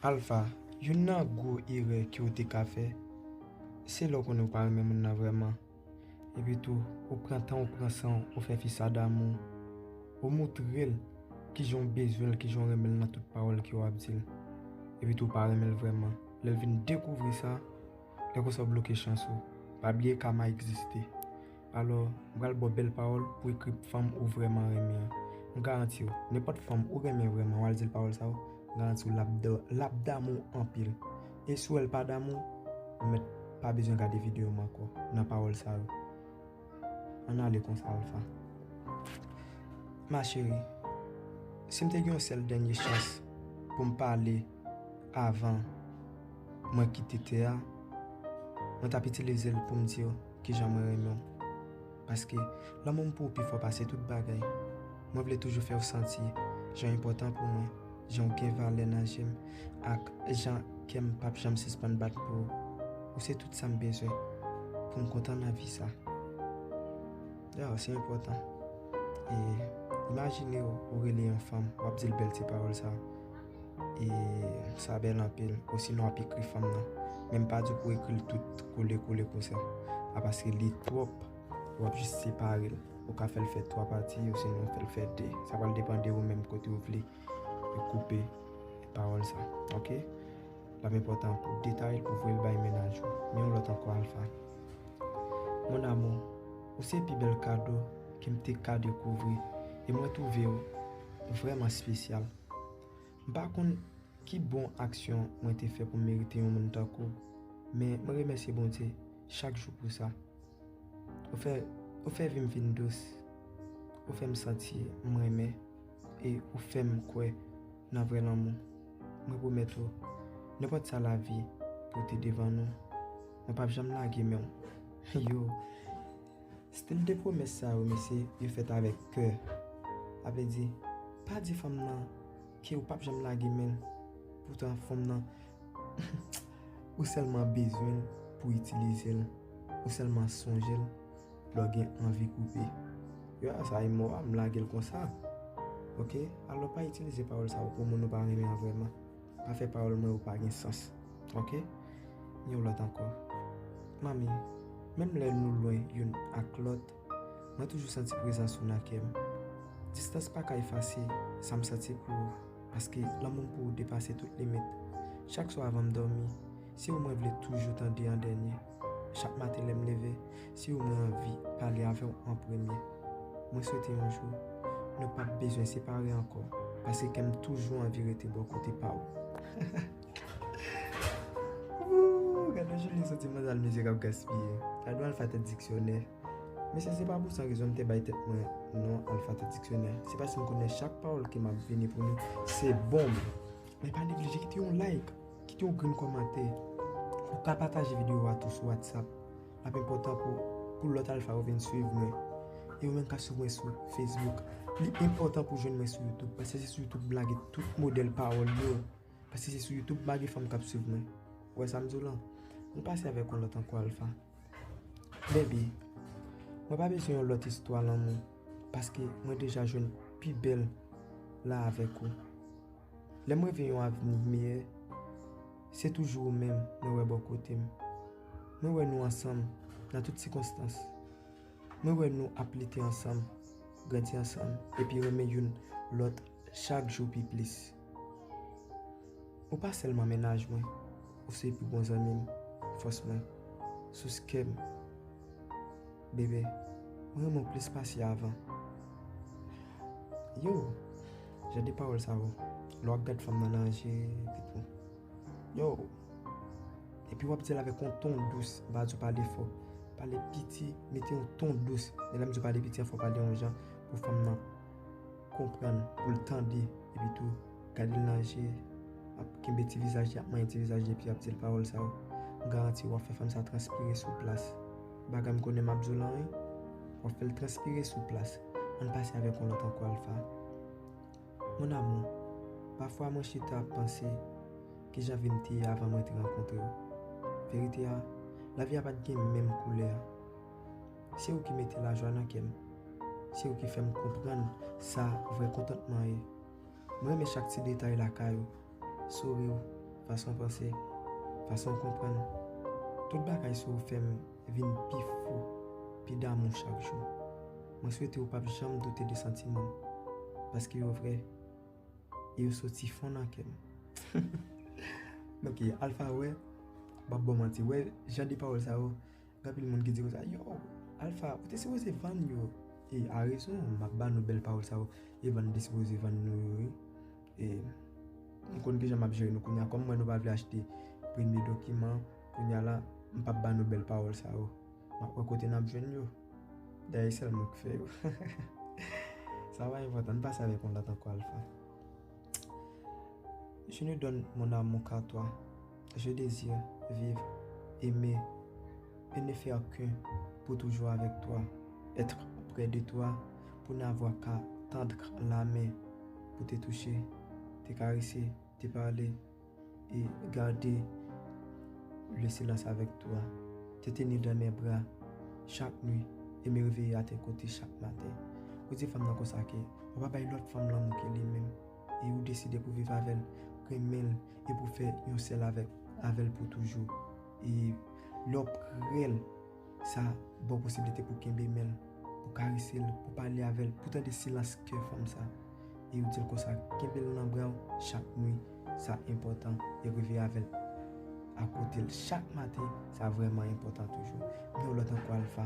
Alpha, youn nan gwo erè ke w te ka fè, se lè w konnen w pa renmen moun nan vrèman. Epi tou, ou pran tan w pran san w, ou fè fi sa damou w. Ou moutre l kijan w bezwen l, kijan w renmen l nan tout pawòl ke w ap di l. Epi tou ou pa renmen l vrèman. Lè l vin dekouvri sa. Lè konsa ou bloke chans ou. Pa bliye kama egziste. Alò, m pral ba w bèl pawòl pou ekri pou fanm ou vrèman renmen an. M garanti w, nenpòt fanm ou renmen vrèman wa l di l pawòl sa yo, m garanti w l ap damou w anpil. E si w wè l pa damou w, ou mèt pa bezwen gade videyo m ankò nan pawòl sa yo. Ann ale konsa Alpha. Ma chérie, si m te gen yon sèl dènye chans pou m pale avan. Mwen kite tè a, mwen t ap itilize l pou m di w ki jan mwen renmen w. Paske, lanmou m pou w pi fò pase tout bagay. Mwen vle toujou fè w santi jan w enpòtan pou mwen, jan w gen valè nan je m, ak jan kè m pap janm sispann bat pou w. Ou se tout sa m bezwen pou m kontan nan vi sa. Dayè, se enpòtan. E, imajine w rele yon fanm, w ap di l bèl ti pawòl sa yo. E sa bèl anpil. Osinon wap ekri fanm nan. Menm pa di pou ekril tout kole kole konsa. A paske li twòp. Wap jis separel. Ou ka fèl fè 3 pati osinon ou fèl fè 2. Sa pral depan de ou menm kote ou vle. Ou koupe pawòl sa. Ok. Lap enpòtan pou detayel pou voyel bay menaj ou. Gen yon lòt ankò alfa. Mon amou. Ou se pi bèl kado kem te ka dekouvri. E mwen twouvew vrèman spesyal. M pa konn ki bon aksyon mwen te fè pou m merite yon moun tankou w, men mwen remèsye Bondye chak jou pou sa. Ou fè ou fè vi m vin dous, ou fè m santi m renmen e ou fè m kwè nan vrè lanmou. Mwen pwomèt ou, nenpòt sa lavi pote devan nou, mwen p ap janm lage men w. Yow! Stil de pwomès sa yo mesye yo fèt avèk kè. A vle di, pa di fanm nan ke ou pap janm lage menl poutan fanm nan ou sèlman bezwenl pou itilizel, ou sèlman sonjel lè w gen anvi koupe. Yo a sa e mo a m lagel konsa ok. Alò pa itilize pawòl sa yo pou moun ou pa renmen an vrèman. Pa fè pawòl mwen yo pa gen sans ok yon lòt ankò manmi menm lè nou lwen youn ak lòt mwen toujou santi prezans ou nan kè m distans pa ka efase sa m santi pou ou paske lanmou m pou ou depase tout limit chak swa avan m dòmi se ou mwen vle toujou tande an dènye. Chak maten lè m leve, se ou mwen anvi pale avè w an premye. Mwen swete yon jou, nou pap bezwen separe ankò, paske kè m toujou anvi rete bò kote pa w. Ooh! Gade yon jounen soti manzal mizè k ap gaspiye. Gade yon alfate diksyonè. Mesye se pa pou san rezon m te bay tèt mwen non alfate diksyonè. Se paske m konnen chak pawòl ki m ap vini pou nou se bonm. Men pa neglije kite yon like! Kite yon grenn kòmantè. Ou ka pataje videyo a tou sou WhatsApp. L ap enpòtan pou pou lòt alfa yo vin suiv mwen. E yo menm ka suiv mwen sou Facebook. Li enpòtan pou jwenn mwen sou YouTube. Paske se sou YouTube m lage tout modèl pawòl yo. Paske se sou YouTube m lage fanm k ap suiv mwen. Ou wè sa m di w la? An n pase avèk yon lòt ankò alfa. Bebe, mwen pa bezwen yon lòt istwa lanmou. Paske mwen deja jwenn pi bèl la avèk ou. Lè m reve yon avni miyè, se toujou ou menm mwen wè bò kote m. Mwen wè nou ansanm nan tout sikonstans. Mwen wè nou ap lite ansanm, grandi ansanm epi renmen youn lòt chak jou pi plis. Ou pa sèlman mennaj mwen, ou se pi bon zanmi m, fòs mwen, sous kè m. Bebe, m renmen w plis pase avan. Yo, jan de pawòl sa yo, lè w ap gad fanm nan nan je, epi tou. Yo, epi w ap di l avèk yon ton dous, m pa di w pale fò. Pale piti, mete yon ton dous. E lè m di w pale piti an, fò w pale yon jan pou fanm nan konprann, pou l tande. Epi tou, gade l nan je, ap kenbe ti vizaj li, ap manyen ti vizaj li epi ap di l pawòl sa yo. M garanti w ap fè fanm sa transpire sou plas. Baga m konnen map di w lan wi. Wap fèl transpire sou plas. Ann pase avèk yon lòt ankò Alpha. Mon amour, pafwa mwen chita ap panse kijan vi m te ye avan mwen te rankontre w. Verite a, lavi a pat gen menm koulè a. Se ou ki mete lajwa nan kè m. Se ou ki fè m konprann sa vrè kontantman ye. M renmen chak ti detay lakay ou, souri w, fason w panse, fason w konprann. Tout bagay sou ou fè m vin pi fou, pi damou chak jou. Mwen swete ou pap janm doute de santiman m, paske yo vrè e yo soti fon nan kè m. Ok, Alpha wè, m pap ba w manti, wè jan de pawòl sa yo. Gen anpil moun ki di konsa, Yow, Alpha, ou te sipoze vann yo. E a rezon, m ap ba nou bèl pawòl sa yo, e vann nou te sipoze vann nou yo wi. E m konn kijan m ap jere nou kounye a. Kòm m wè nou pa vle achte premye dokiman, kounye a la, m p ap ba nou bèl pawòl sa yo. M ap wè kote n ap jwenn yo. Dayè e sèl mwen ki fè yo. Sa pa enpòtan, n pase avèk yon lòt ankò Alpha. Je ne donne mon amour qu'à toi. Je désire vivre, aimer et ne faire qu'un Pou toujou avèk twa, être près de toi Pou n'avoir qu'à tendre la main Pou te touche, te karese, te pale Et garder le silence avec toi Te tenir dans mes bras chak nuit Et me réveiller à tes côtés chak maten Ou di fanm nan konsa ke ou pa bay lòt fanm lanmou ke li menm E ou deside pou viv avèl, renmenl e pou fè yon sèl avèk avèl pou toujou. E lè w prel, sa ba w posibilite pou kenbe menl, pou karese l, pou pale avèl, pou tande silans kè fanm sa. E ou dil konsa, kenbe l nan bra w chak nwi, sa enpòtan e reve avèl akote l chak maten, sa vrèman enpòtan toujou. Gen yon lòt ankò Alpha.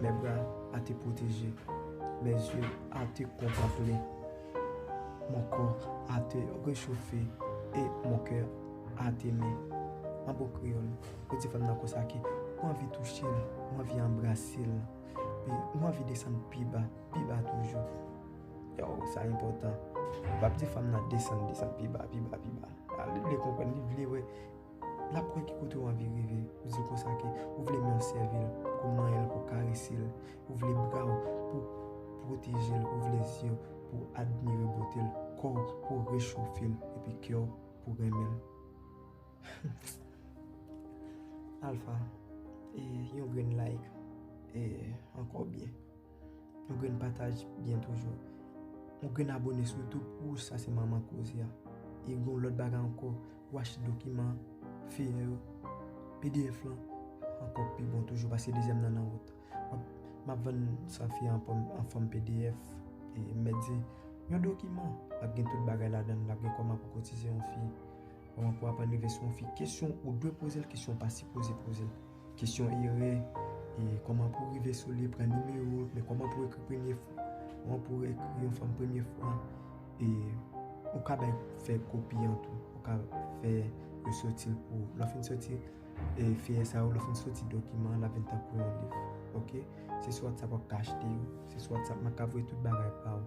Mes bras a te proteger, mes yeux a te contempler, mon corps a te rechauffer et mon coeur a t'aimé. An bon kreyòl, yo di fanm nan konsa ke ou anvi touche l, ou anvi anbrase l, e ou anvi desann pi ba, pi ba toujou. Yow, sa enpòtan. Ou pap di fanm nan desann, desann pi ba, pi ba, pi ba. Li vle konprann, li vle wè. Lap wè ki kote ou anvi rive, ou dil konsa ke ou vle menw sèvil pou manyenl pou karesel, ou vle braw pou pwotejel, ou vle zyew pou admire botel, kòw pou rechofel epi kèw pou renmenl. Alpha, yon grenn like e ankò byen. Yon grenn pataj byen toujou. Yon grenn abone sou youtube pou ou sa se manman koze a. E gon lòt bagay ankò ou achte dokiman feyè yo pdf lan ankò pi bon toujou paske dezyèm nan nan wout. Map vann sa feyè an fòm pdf e mèt di yon dokiman lap gen tout bagay ladann lap gen kòman pou kotize yon fi kòman pou aprann rive sou yon fi kesyon ou dwe poze l kesyon ou pa sipoze poze l. Kesyon erè e kòman pou rive sou li pran nimewo men kòman pou ekri premye fwa kòman pou ekri yon fòm premye fwa e ou ka bay fè kopi an tou ou ka fè yo soti l pou lè w fin soti e feyè sa yo lè w fin soti dokiman an l ap vin tankou yon liv ok se sou whatsapp wap ka achte yo se sou whatsapp mwen ka voye tout bagay pa ou.